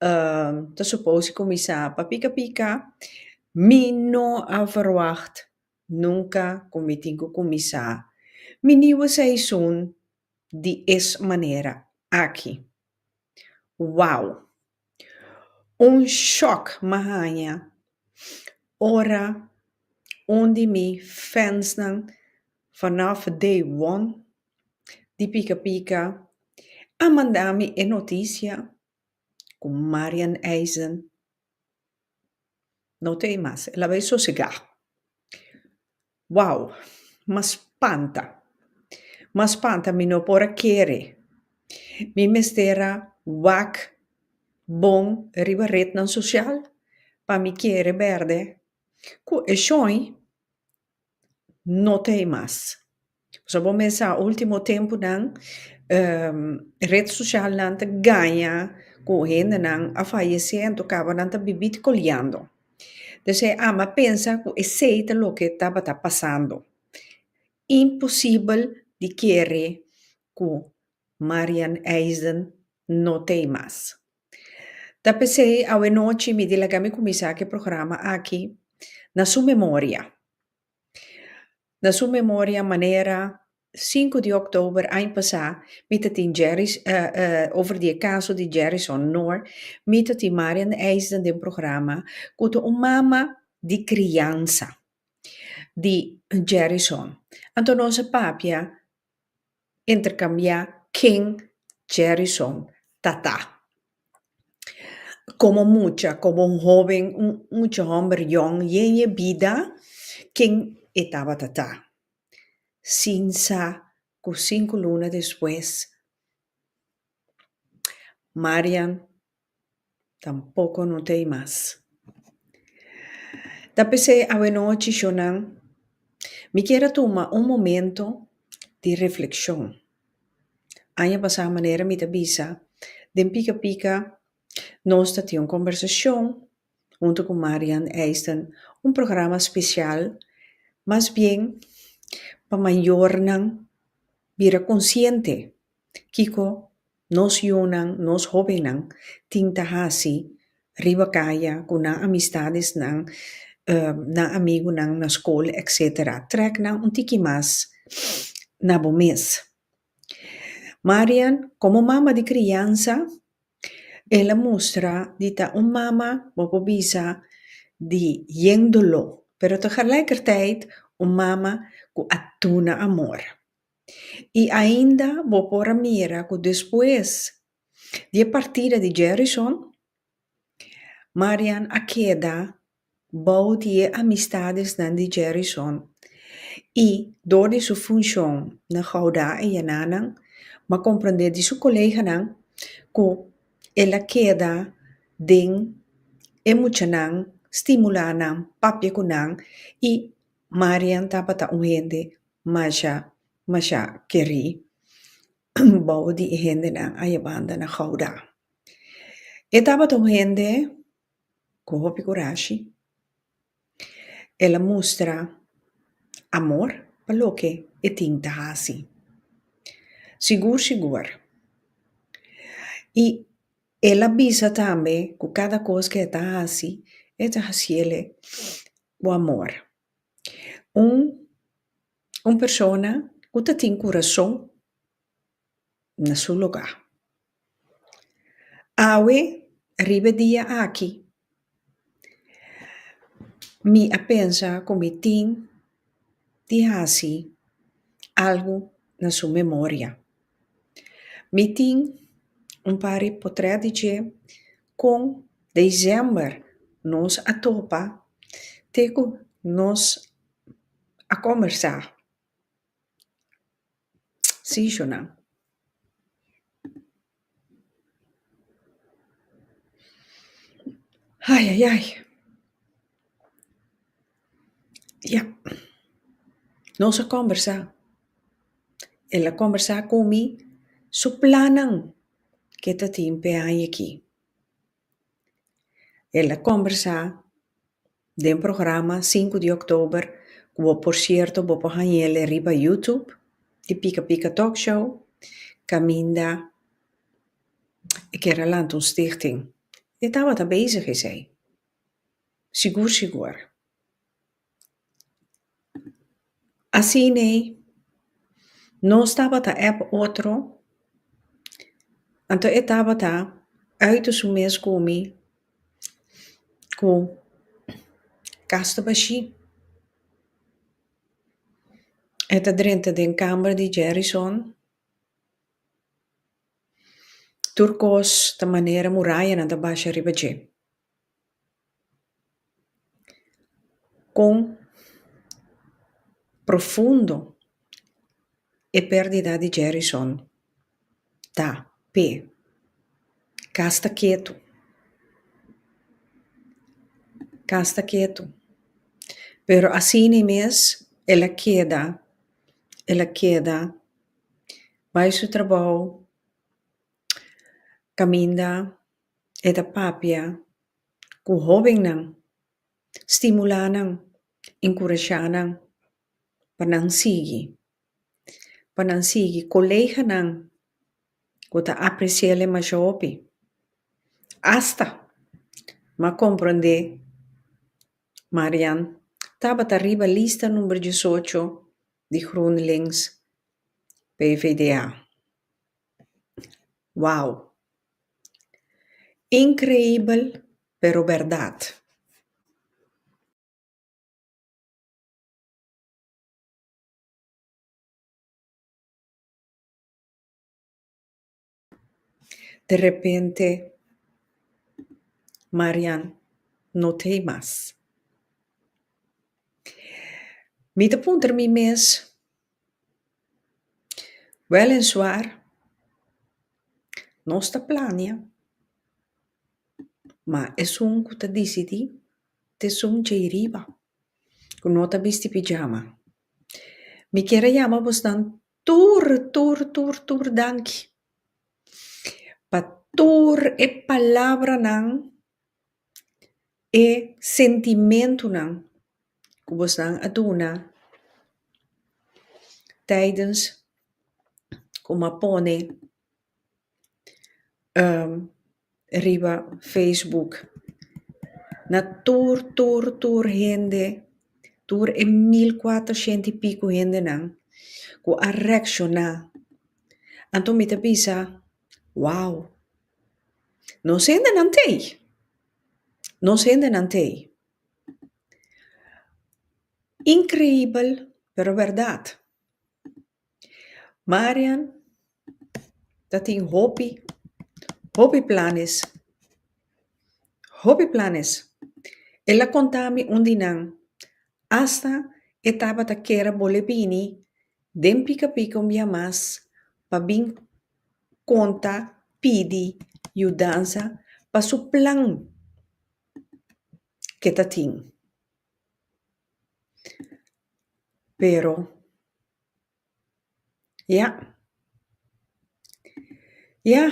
Ehm, ta supos di kuminsá pa pika pika. Mi no a verwagt nunka ku mi tin ku kuminsá mi niu seisoen di es manera aki. Wow! Un shòk mi a haña ora un di mi fensnan vanòf day one di pika pika a manda mi e notisia. cu Marian Eisen no ta ey mas el a bay sosega wow ma spanta ma spanta mi no por a kere mi mester a wak bon riba rednan social pa mi kere berde cu e shoin No ta hei mas. Pasobra bo mester sa ultimo tempunan ret socialnan ta gaña cu hendenan a fayecé anto caba nan ta bibí te coleando. P'esei ama a pensa cu esei ta loke tabata pasando. Imposibel di kere cu Marian Eisden no ta hei mas. Ta pesey awe nochi mi di laga mi kuminsá ke programa aki na su memoria, na su memoria manera sinku di òktober aña pasá mi ta tin Jerry's over di e kaso di Jerry's Honor, mi ta tin Marian Eisden den programa ku ta un mama di kriansa di Jerry's Hon. Anto nos a papia intercambia ken Jerryson ta ta. Como mucha, como un hoben, un mucha homber yong yen e bida, ken e tabata ta. Sin sa cu cinco luna despues Marian Tampoco no t'ey mas. Ta pesey awenochi shonan mi kier a tuma un momento di refleccion. Aña pasa manera mi ta bisa den pika pika nos ta tin un conversacion hunto cu Marian Eisden un programa special mas bien pa mayornan bira consciente kico. Nos yunan, nos hobennan tin ta hasi riba kaya ku nan amistadesnan, nan amigunan na skol etc. Trèk nan un tiki mas na bo mes. Marian, komo mama di kriansa, el a mustra di ta un mama bo por bisa di yen doló, pero tegelijkertijd un mama ku a duna amor. I ainda bo por a mira ku despues di e partida di Jerison, Marian a keda bou di e amistadesnan di Jerison i dor di su funshon na Gouda i Henanan bo a komprende di su koleganan ku el a keda den e muchanan, stimulá nan, papia ku nan i Marian tabata un hende Masha, masha kerí bou di e hendenan a yebanda na Gouda. E tabata un hende ku hopi kurashi. El a mustra amor pa loke e tin ta hasi. Sigur sigur i el a bisa tambe ku kada kos ku e ta hasi e ta hasiel ku amor. Un un persona ku ta tin kurason na su lugá. Awe riba e dia aki mi a pensa ku mi tin di hasi algu na su memoria. Mi tin un par di potret di dje Kon Dezember nos a topa te ku nos a kombersá seasonnan. Ayayay. Ya. Nos a kòmbersá. E la kòmbersá ku mi su plannan ke ta tin p'e aña ki. E la kòmbersá den programa Sinku di Òktober, ku bo por sierto bo por hañ'el riba YouTube, di Pika Pika Talk Show, kaminda e kèra lanta un stichting. E tabata bezig esei. Sigur sigur. Asina ei nos tabata ep otro anto e tabata uit su mes komi ku kas ta bashi. E ta drenta den kamer di Jerison. Tur kos ta manera murayanan ta bashi ariba dje. Kon profundo e perdida di Jerrison ta p'e? Ka sta ketu. Ka sta ketu. Pero asina mes el a keda, el a keda bai su trabou, kaminda. E ta papia ku hóbennan, stimulá nan, enkurashá nan pa nan sigui. Pa nan sigui koleganan ku ta apresiéle masha hopi. Asta m'a komprondé Marian tabata riba lista number disocho di GroenLinks PvdA. Wow! Increibel pero berdad. De repente Marian no te mas. Mi ta puntra mi mes. Wel en suar, nos ta plania, ma esun cu ta dicidí ta esun djei riba, cu no ta bisti pijama. Mi kier a yama bonan tur, tur, tur, tur danki pa tur e palabranan E sentimentunan ku bosan a duna taidens kuma pone riba facebook na tur tur tur hende tur e mil kuater shenti i piko hendenan ku a reakshona anto mi ta bisa wow. Nos hendenan t'ei. Nos hendenan t'ei. Increibel, pero berdad. Marian ta tin hopi, hopi planes, hopi planes. El a contami un di nan, hasta e tabata kere bol'e bini den Pica Pica un bia mas pa bin konta pidi yudansa pa su plan ke ta tin. Pero, ya. Ya,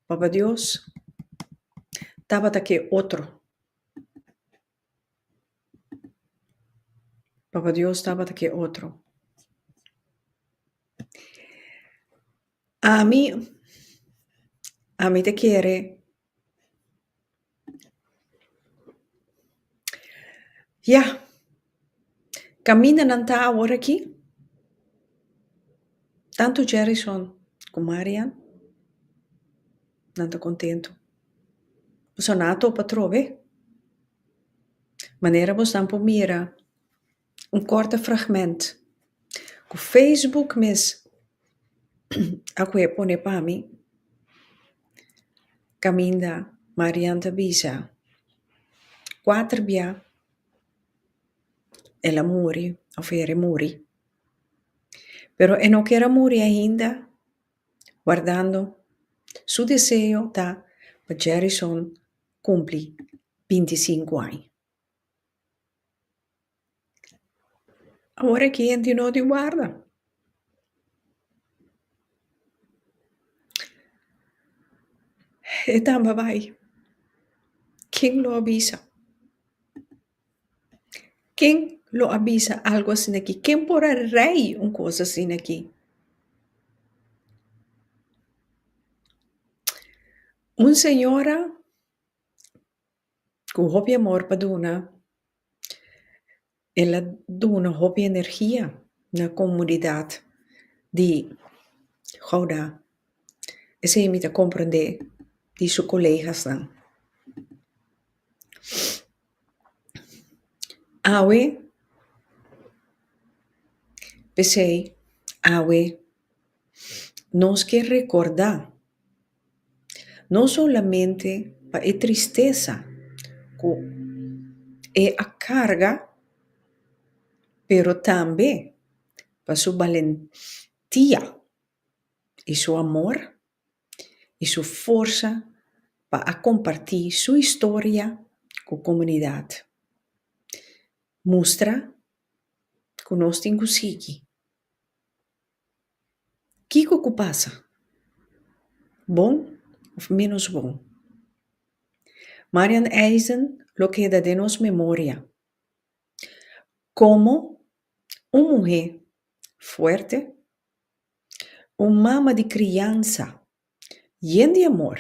Papa Dios tabata ke otro. Papa Dios tabata cu e otro. Ami, ami ta kere yah, caminanan ta awor aki, tanto Jerrison cu Marian. nan ta kontentu. Boso na a topa trobe manera bosnan por mira un kòrte fragment ku facebook mes a kue pone pa mi kaminda Marian ta bisa kuater bia el a muri òf ere muri pero e no kera muri ainda. Guardando, su deseo ta pa Jerryson kumpli binti i sinku aña. Awor aki henti no di warda. E tamba bai. Ken lo a bisa? Ken lo a bisa algu asin'aki? Ken por a rei un kos asin'aki? Un señora ku hopi amor pa duna, el a duna hopi energia na komunidat di Gouda. Esei mi ta komprende di su kolegasnan. Awe, p'esei awe nos ke rekordá no solamente pa e tristesa ku e a karga pero tambe pa su balentia i su amor. i su forsa pa a kompartí su historia ku komunidat. Mustra ku nos tin ku sigui. Kiko ku pasa? Bon òf ménos bon? Marian Eisen lo keda den nos memoria komo un muhé fuerte, Un mama di kriansa yen di amor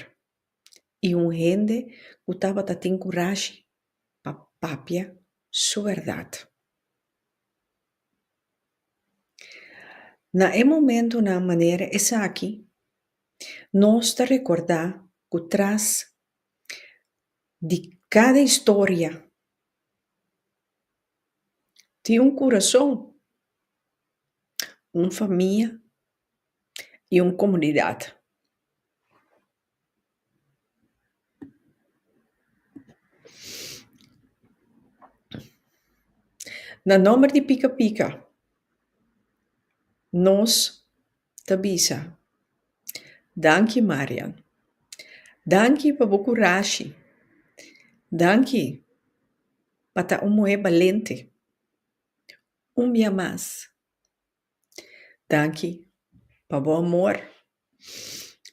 i un hende ku tabata tin kurashi pa papia su bèrdat. Na e momentunan manera esaki nos ta rekordá ku tras di kada historia. Tin un kurason, un famia i un komunidat. Na nòmber di Pika Pika, nos ta bisa, Danki Marian. Danki pa bo kurashi. Danki. pa ta un muhé balente un bia mas. Danki pa bo amor,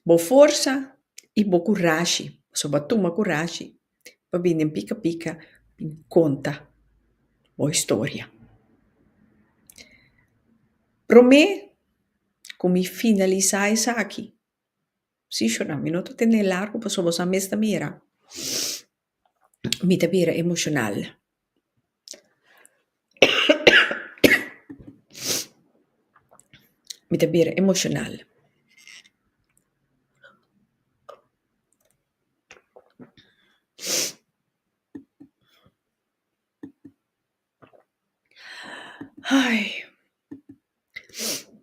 bo forsa i bo kurashi pasobra bo a tuma kurashi pa bini den pika pika bin konta bo historia. Promé ku mi finalisá esaki, sí shona, mi no ta tene largu pasobra boso a mes ta mira. mi ta bira emoshonal. Mi ta bira emoshonal.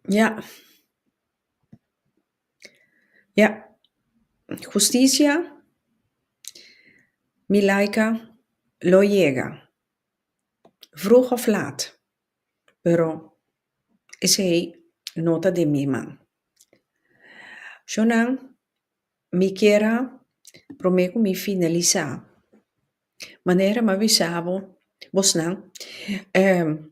Ya. Ya. Husticia mi laika lo yega. Vroeg of laat. Pero esei no ta den mi man. Sjonan, mi kiera prome ku mi finalisá manera mi a bisa bo, bosnan, ehm,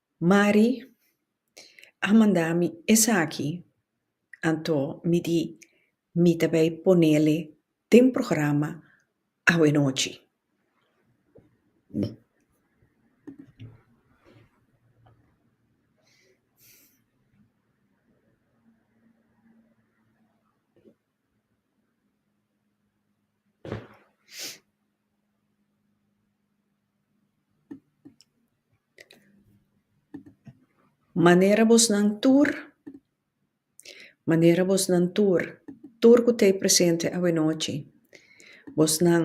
Mari a manda mi esaki, anto mi di mi ta bay ponele den programa awe-nochi. Manera bosnan tur, manera bosnan tur, tur cu ta e presente awanochi, bosnan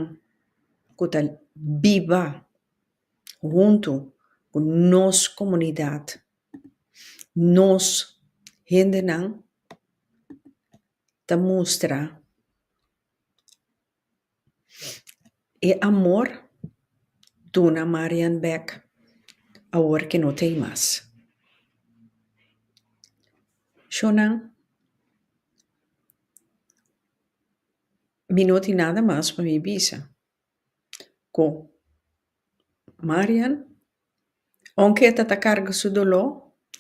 cu ta biba hunto cu nos comunidad, nos hendenan. ta mustra e amor duna Marian bek awor ke no ta ei mas. Shownan, mi no tin nada mas pa mi bisa. Cu Marian, aunke e ta ta carga su doló,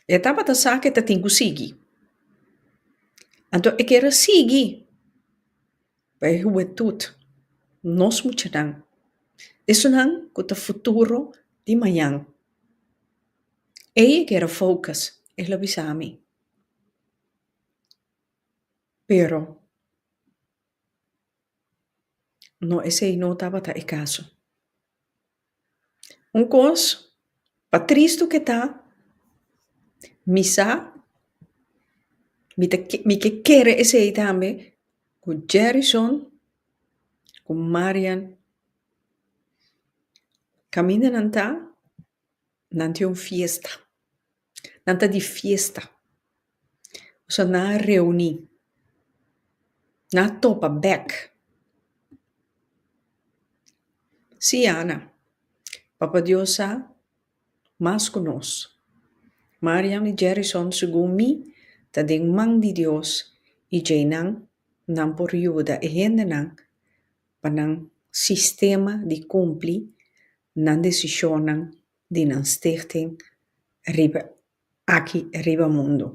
e tabata sa cu e ta tin cu sigui. Anto e kera sigui pa e hubentud, nos muchanan. Esunnan cu ta futuro di mañan. Ei e kera focus, el a bisa mi. Pero. No, esei no tabata e caso. Un cos, pa tristu ke ta, mi sa, mi ta ke- mi ke kere esei tambe, ku Jerrison ku Marian, kaminda nan ta, nan tin un fiesta. Nan ta di fiesta. So nan a reuni. Nan a topa bek. Si, Ana. Papa Dios sa mas ku nos. Mariam i Jerrison, segun mi, ta den man di Dios i djei nan nan por yuda e hendenan pa nan sistema di kumpli nan desishonnan di nan stichting riba aki riba mundu.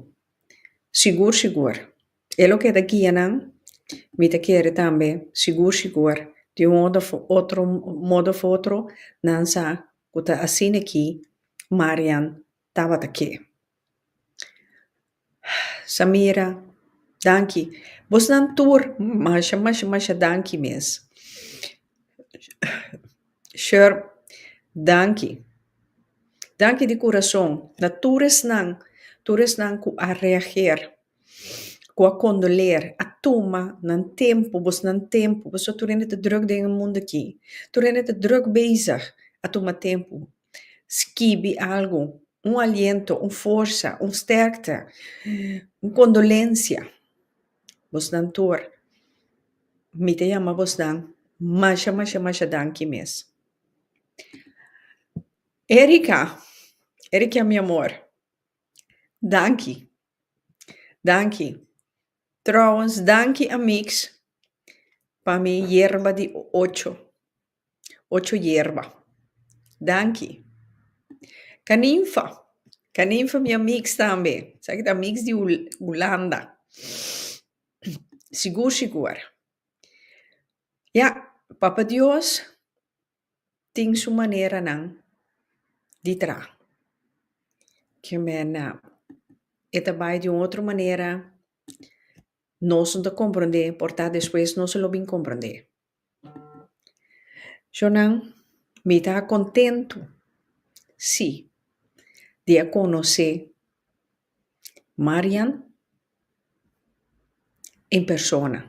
Sigur sigur e lo ke ta guia nan, mi ta kere tambe sigur sigur di un otro otro modo of otro nan sa ku ta asina ki Marian tabata ke. Samira, Danki. Bosnan tur masha, masha, masha danki mes. Sher, Danki. Danki di kurason na tur esnan, tur esnan ku a reager, ku a kondoler, a tuma nan tempu, bosnan tempu, pasobra tur hende ta drùk den e mundu aki. Tur hende ta drùk bezig a tuma tempu. Skibi algu, un aliento, un forsa, un sterkte, un kondolensia. Bosnan tur, mi ta yama bosnan masha, masha, masha danki mes. Erica, Erikia mi amor, danki, danki. Trouwens, danki amiks pa mi yerba di ocho. Ocho yerba. Danki. Kaninfa. Kaninfa mi a mix tambe. Sa ki ta mix di Hulanda. Sigur sigur. Ya, Papa Dios tin su maneranan di traha. Ke mennan e ta bai di un otro manera. Nos no ta comprende, por ta despues nos lo bin comprende. Shownan mi ta contento si di a conoce Marian en persona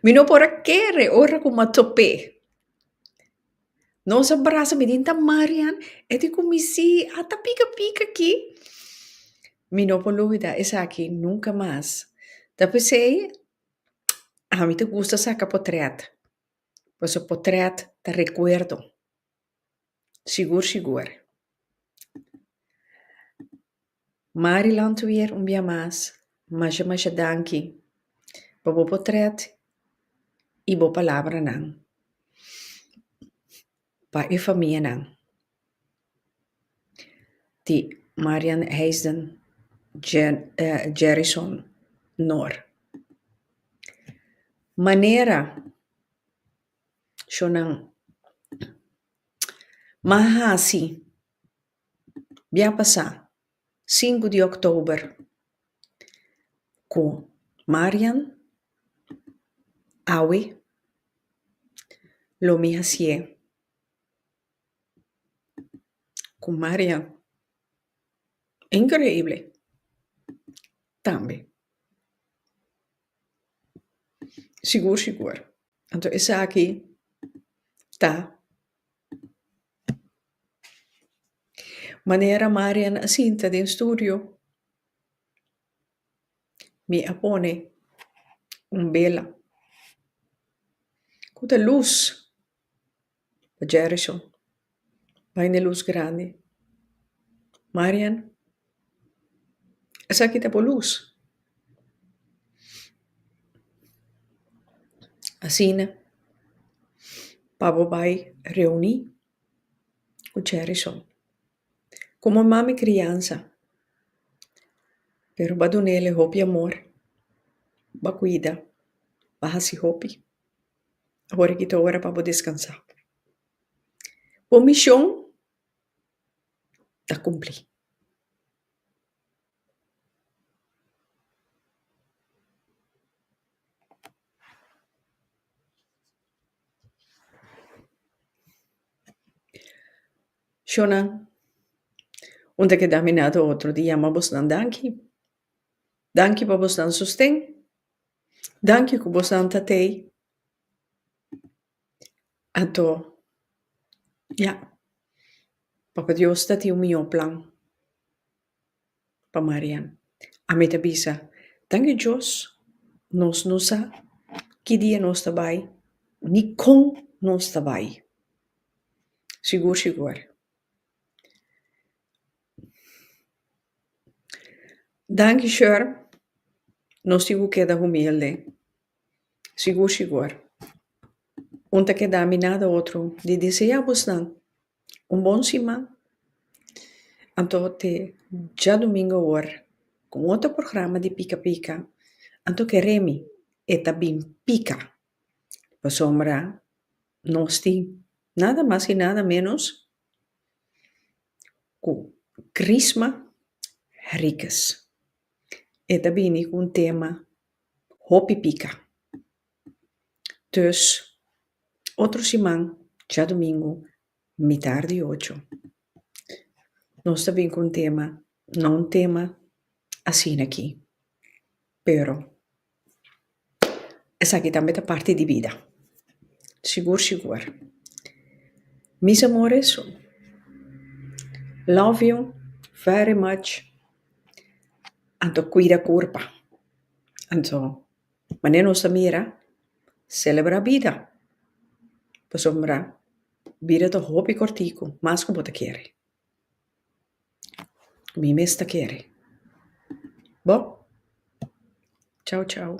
mi no por a kere ora cu mi top'e nos a brasa mi tin ta Marian e tin cu mi si ata pica pica aki mi no por olbida esaki nunca mas ta pesey A mi ta gusta saka potret pasobra potret ta rekuerdo sigur sigur. Marilont weer un bia mas masha masha danki pa bo potret i bo palabranan. Pa e famianan di Marian Heijden Jerryson Noor. Manera sho nan ma hasi. Bia pasá sinku di october cu Marian, Awe, lo mi hacié cu Marian increíble tambe. Sigur sigur. Anto esaki ta. Manera Marian a sinta den studio, mi a pone un bela ku ta lus pa Jerison. Bai na lus grandi. Marian. Esaki ta por luz. Asina pa bo bai reuni ku cheri sòn. Komo mami kriansa. Pero ba dunel e hopi amor. Ba kuida. Ba hasi hopi. Ahora ki ta ora pa bo deskansá. Bo mishon ta cumpli. Shona, un ta keda mina te otro di yama bosnan danki. Danki pa bosnan sosten. Danki cu bosnan ta tei. Ato, ya. Papa Dios ta tin un mihó plan pa Marian. Ami ta bisa, Thank you Dios, nos no sa ki dia nos ta bai, ni kon nos ta bai. Sigur, sigur. Danki, Sher. Nos tin ku keda humilde. Sigur sigur. Un ta keda mi nada otro di desea bosnan un bon siman anto te djadumingu awor ku un otro programa di Pika Pika. Anto ke Remy e ta bin pika pasobra nos tin nada mas i nada menos ku Chrisma Henriquez. E ta bini ku un tema. hopi pika. Dus, otro siman, djadumingu, mitar di ocho, nos ta bin ku un tema, no un tema asina aki, pero esaki tambe ta parti di bida, sigur sigur. Mis amores, love you very much. Anto cuida curpa. Anto manera nos ta mira, celebra bida. Pasobra bida ta hopi corticu, mas cu bo ta kere. Mi mes ta kere. Bo? Chau chau.